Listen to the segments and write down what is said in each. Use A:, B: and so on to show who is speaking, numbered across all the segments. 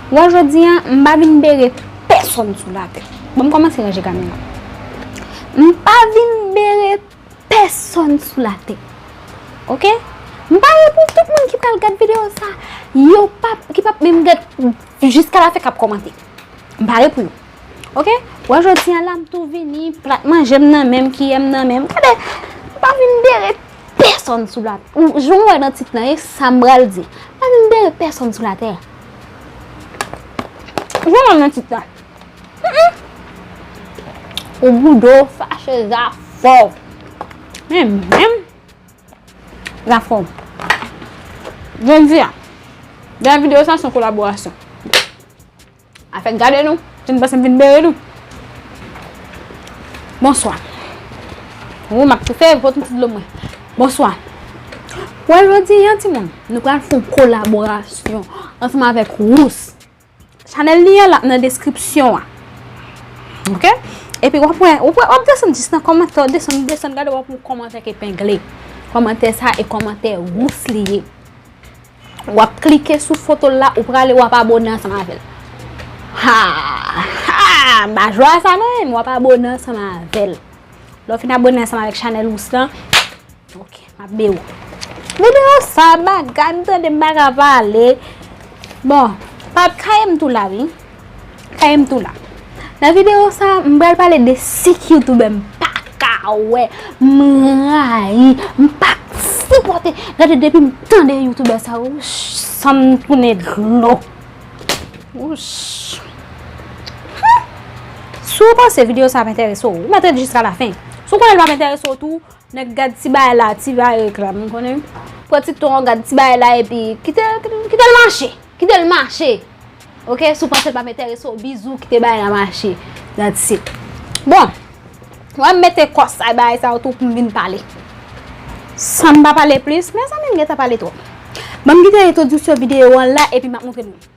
A: Wè jodi an, m pa vin bere pèsonn sou latè. Bon, m kòmanse ranje kamyon an. M pa vin bere pèsonn sou latè. Ok? M pare pou tout moun ki pral gad videyo sa, yo pa, ki pa menm gad jiska la fen k ap kòmante. M pare pou yo. Ok? Wè jodi an la, m tou vini, plat manje m nan men m, kiyè m nan men m. Gade, m pa vin bere Pèsòn sou la. Jan ou wè nan tit lan e sa m pral di. Pa menm dèyè pèsòn sou latè. Jan ou wè nan tit lan. Ou boude ou fache zafè w. Men menm. Zafè w. Jodi a. Dèyè videyo sa son kolaborasyon. Afèk gade nou, si nou panse m vin bere nou. Bonswa. Ou map toufe, pot m ti dlo mwen. Bonswa. Wè jodi an ti moun, nou pral fon kolaborasyon ansanm avèk Rous. Chanèl li an lap nan deskripsyon an. Ok? Epi wap wè, wap wè, wap desann jis nan komantè, wap desann, wap desann, gade wap wè yon komantè ki epengle. Komantè sa e komantè Rous li ye. Wap klike sou fotol la ou prale wap abone ansanm avèl Haahhaa m pa jwe a sa nan men wap abone ansanm avèl Lè w fin abone ansanm avèk chanèl ous lan Ok map be ou Video sa bagay m tande m paka pale Bon pap kayem tou la wi. Kaye m tou la. Nan video sa m pral pale de 5 youtubè m paka wè, m rayi, m pa k sipòte. Gade depi m tande youtubè sa yo san m tounen dlo. Si w panse video sa ap enterese w, ou mèt ret jiska lafen. Si w konnen l pap enterese w tou. Nèg gad ti bagay la ti bagay reklam ou konnen pran ti ton an gad ti bagay la epi kitel kitel mache kitel mache ok si w panse l pap enterese w bizou kite bagay la mache that's it bon wè m mete kòs a bagay sa yo tou pou m vin pale san m pa pale plis mezanmi m gentan pale twòp ban m kite entwodiksyon videyo an la epi m ap montre nou.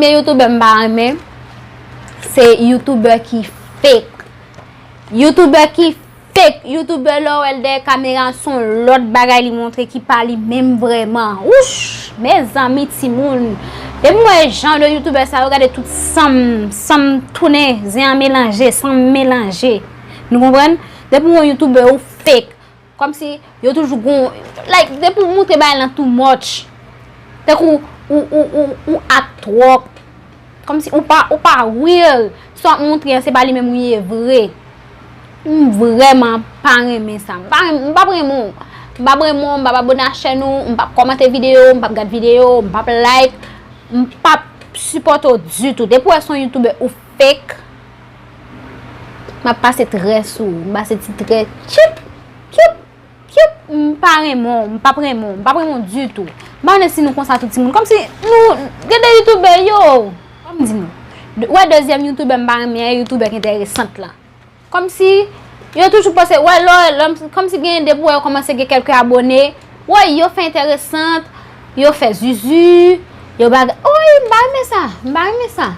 A: Premye youtuber m pa renmen se youtuber ki fake. Youtuber ki fake. Youtuber lè w wè l dèyè kamera son lòt bagay li montre ki pa li menm vrèman. Wouch! Mezanmi timoun Depi m wè jan de youtubè sa yo gade tout sanm sanm tounen zen an melanje sanm melanje nou konprann depi w wè yon youtubè ou fake kòmsi yo toujou gon like depi w moutre bagay lan too much tankou ou ou ou ou act twòp Kòm si ou pa ou pa real. Sa wap montre an se pa li menm ou ye vre. M vrèman pa renmen sa. M pa renmen m pap renmen w. M pap renmen w, m pap abone a chèn ou, m pap kòmante videyo w, m pap gad videyo w, m pap like, m pap sipòte w ditou. Depi w wè son youtube ou fek, m ap pase trè sou ou. M pase ti trè tchip, tchup. Cute m pa renmen w, m pap renmen w, m pap renmen w ditou. M pa konnen si nou konsa tout timoun. Kòmsi nou gen 2 youtoubè yoww. Fò m di nou. Ou wè dezyèm youtoubè m pa renmen an e youtoubè k enteresant lan. Kòmsi yo toujou pòse wè lò kòmsi gen depi wè yo kòmanse gen kèlke abone woy yo fè enteresant, yo fè zuzu, yo baga woy m pa renmen sa, m pa renmen sa.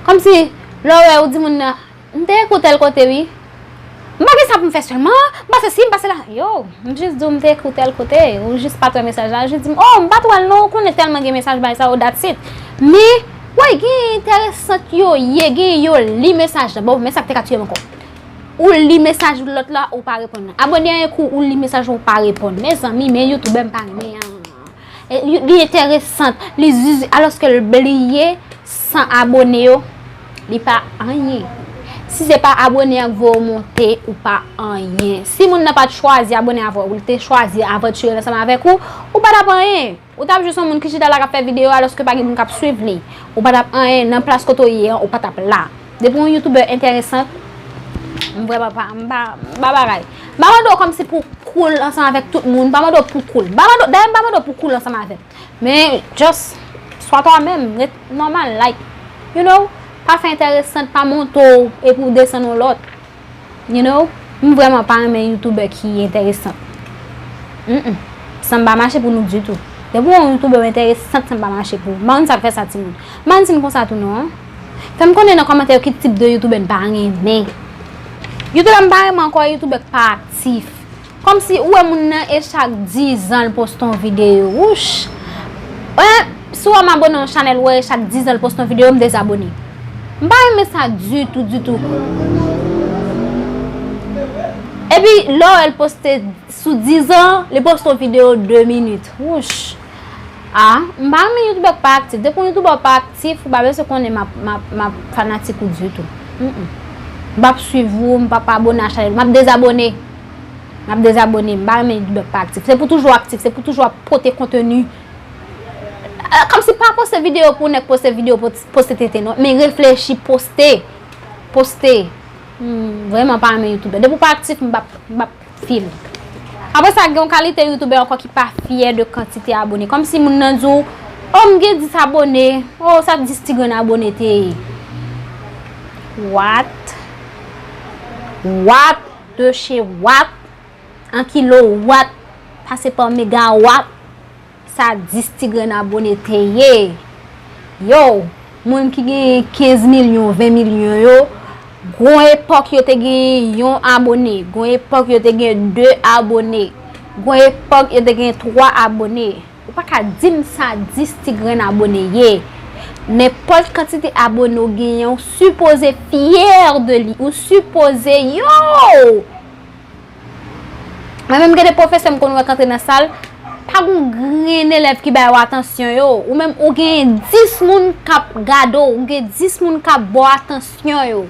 A: Kòmsi lè w wè ou di moun nan. M te ekoutel kote wi. M pa gen sa pou m fè sèlman, m pa sesi, m pa sela. Yow, m jis di w m te ekoutel kote, ou jis pat wè mesaj la, ou jis di m, oh m pat wè l non, ou konnen tèlman gen mesaj bay sa yo that's it. Men, wè gen enteresant yo ye, gen yo li mesaj la, bon men sa k te ka tiye m ankò. Ou li mesaj lòt la, ou pa reponn. Abòne a yon kou ou li mesaj ou pa reponn. Mezanmi, men youtube m pa renmen an. Li enteresant, li zuzu, aloske l bliye 100 abone yo, li pa anyen. Si se pa abone an k voye w monte, ou pa anyen. Si moun nan pa t chwazi abone avè w, li te chwazi avanture l ansanm avèk ou, ou pa t ap anyen. Ou t ap jis yon moun ki chita la k ap fè videyo aloske pa gen moun k ap swiv li. Ou pa t ap anyen, nan plas kote w ye an, ou pa t ap la. Depi yon youtuber enteresant, m vre pa pa, m pa, m pa bagay. M pa mande w kòm si pou cool ansanm avèk tout moun, m pa mande w pou cool. M pa mande w, dayè m pa mande w pou cool ansanm avèm. Men, just, swa twa menm, ret nòmal, like, you know, pa fè enteresant, pa monte w epi w desann yon lòt. You know, m vrèman pa renmen youtuber ki entèresant. Humm, sa m pa mache pou nou ditou. Depi w wè yon youtuber ou entèresant sa m pa mache pou ou. M pa konn sa k fè sa timoun. M pa konn si m konsa tou non an. Fè m konnen nan kòmantè yo ki tip de youtuber n pa renmen. Youtuber m pa renmen ankò e youtuber k pa aktif. Kòmsi ou wè moun nan e chak 10 an l poste yon videyo wouch en si wè m abone yon chanèl wè e chak 10 an l poste yon videyo m dezabone m pa renmen sa ditou ditou epi lè w wè l poste sou 10 an li poste yon videyo 2 minit wouch a m pa renmen youtubè k pa aktif depi yon youtubè w pa aktif ou pa bezwen konnen m ap fanatik ou ditou m pap swiv ou m pap abone a chanèl ou m ap dezabone. Map dezabone, m pa renmen li pa aktif. Se pou toujou aktif, se pou toujou ap pote konteni. Kom si pa poste video pou nèk poste video pou poste tenten non. Men reflechi poste. Poste. M vreman pa renmen youtuber. Depi w pa aktif m pap fye m. Apre sa gen yon kalite youtuber anko ki pa fye de kantite abone. Kom si moun nan di w, oh m gen 10 abone. Oh sa 10 ti grenn abone te ye. What? What? Dosye wap, an kilo wap, pase pa mega wap, sa 10 ti grenn abone te ye. Yow, moun ki genyen 15 milyon, 20 milyon yo, gon epòk yo te genyen yon abone, gon epòk yo te genyen 2 abone, gon epòk yo te genyen 3 abone. Ou pa ka dim sa 10 ti grenn abone ye. Nenpòt kantite abone ou genyen ou sipoze fyè de li. Ou sipoze yow! Mwen menm gen de pwofesè m konn wè k antre nan sal, pa gen yon grenn elèv ki ba yo atansyon yo. Ou menm ou genyen 10 moun k ap gade w, ou gen 10 moun k ap ba w atansyon yo.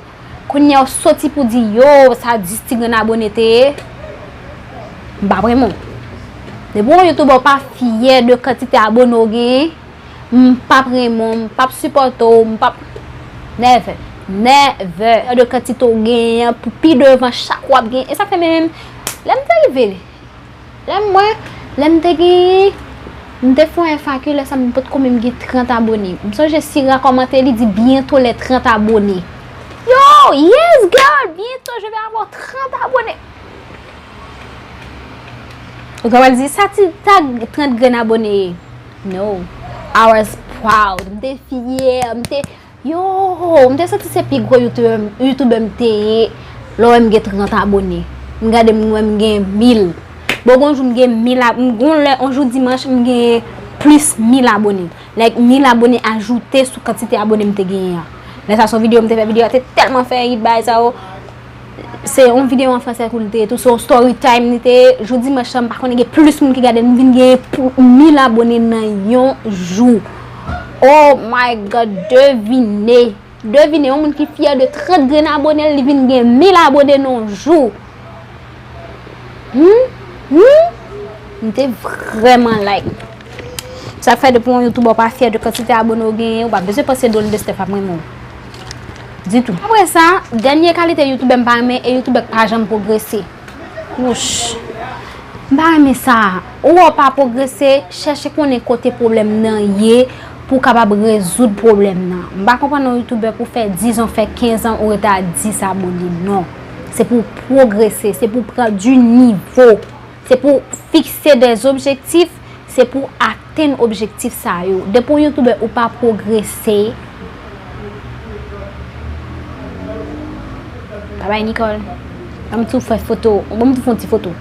A: Kounya ou soti pou di yoo sa 10 ti grenn abone te ye? M pa premè w. Depi w yon youtubè ou pa fyè de kantite abone ou genyen, m pa premè w, m pa p sipòte w, m pa p. Nèvè. Nèvè. Fyè de kantite ou genyen pou pi devan chak w ap gen. E sa k fè menm lè m te rive. Lèm mwen, lèm te gen, m te fon FAQ lè sa m potko menm gen 30 abone. M sonje Sira kòmante li di bientôt les 30 abonnés. Yo! Yes girl! Bientôt je vais avoir 30 abonnés! Ou ta pral di sa ti tag 30 grenn abone ye? No! I was proud, m te fyè, m te Yoohoo m te santi se pi gwo youtubè m te ye lè w wè m gen 30 abone m gade m wè m gen 1000 bon gon jou m gen 1000 abone gon lè on jou dimanch m gen plis 1000 abone like 1000 abone ajoute sou kantite abone m te genyen an lè sa son videyo m te fè videyo a te tèlman fè it bay sa yo. Se yon video an fransè kou li te ye tou, se yon story time li te ye, jou dimanch lan m pa konnen gen plis moun ki gade l, m vin gen pou 1000 abone nan yon jou. Oh my God, devine, devine yon moun ki fyè de 30 grenn abone l, li vin gen 1000 abone nan yon jou. Humm, humm, m te vrèman like. Sa k fè depi yon youtuber pa fyè de kantite abone w genyen, ou pa bezwen panse Dolly Lestèf ap renmen w. Ditou. Apre sa, dènye kalite youtubè m pa renmen e youtubè k pa janm pwogrese. Wouch. M pa renmen sa. Ou wè w pa pwogrese, chèche konnen kote pwoblèm nan ye pou w kapab rezoud pwoblèm nan. M pa konprann yon youtubè pou fè 10 an, fè 15 an ou rete a 10 abone. Non. Se pou w pwogrese, se pou w pran di nivo. Se pou fikse de objektif, se pou atenn objektif sa yo. Depi w youtuber ou pa pwogrese. Bye bye Nicole. Ban m tou fè foto, ban m tou fè yon ti foto.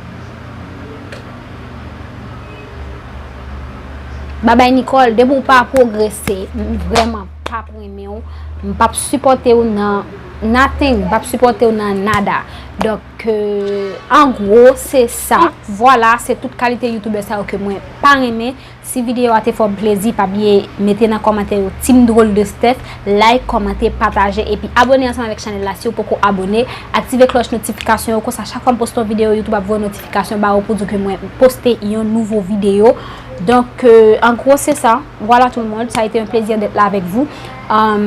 A: Bye bye Nicole, depi w pa pwogrese, m vreman pa p renmen w, m pa p sipòte w nan nothing, m pa p sipòte w nan nada. Ke an gwo se sa. Vwala se tout kalite youtubè sa yo ke mwen pa renmen. Si video a te fè w plezi pa bliye mete nan kòmantè yo Team Drôle de Steph, like, kòmante, pataje epi abone ansanm avèk chanèl la siw poko abone. Aktive klòch notifikasyon yo konsa chak fwa m poste yon video youtube ap voye notifikasyon ba ou pou di w ke mwen poste yon nouvo video. Donk an gwo se sa. Vwala tout le monde, ça a été un plaisir d'être là avec vous.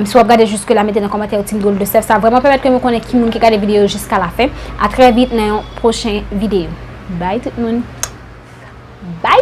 A: Si wap gade jiske la mete nan kòmantè yon ti bdòl de sèl sa vrèman pèmèt ke mwen konnen ki moun ki gade videyo jiska la fen a trè vit nan yon pwochen videyo bay tout moun bay.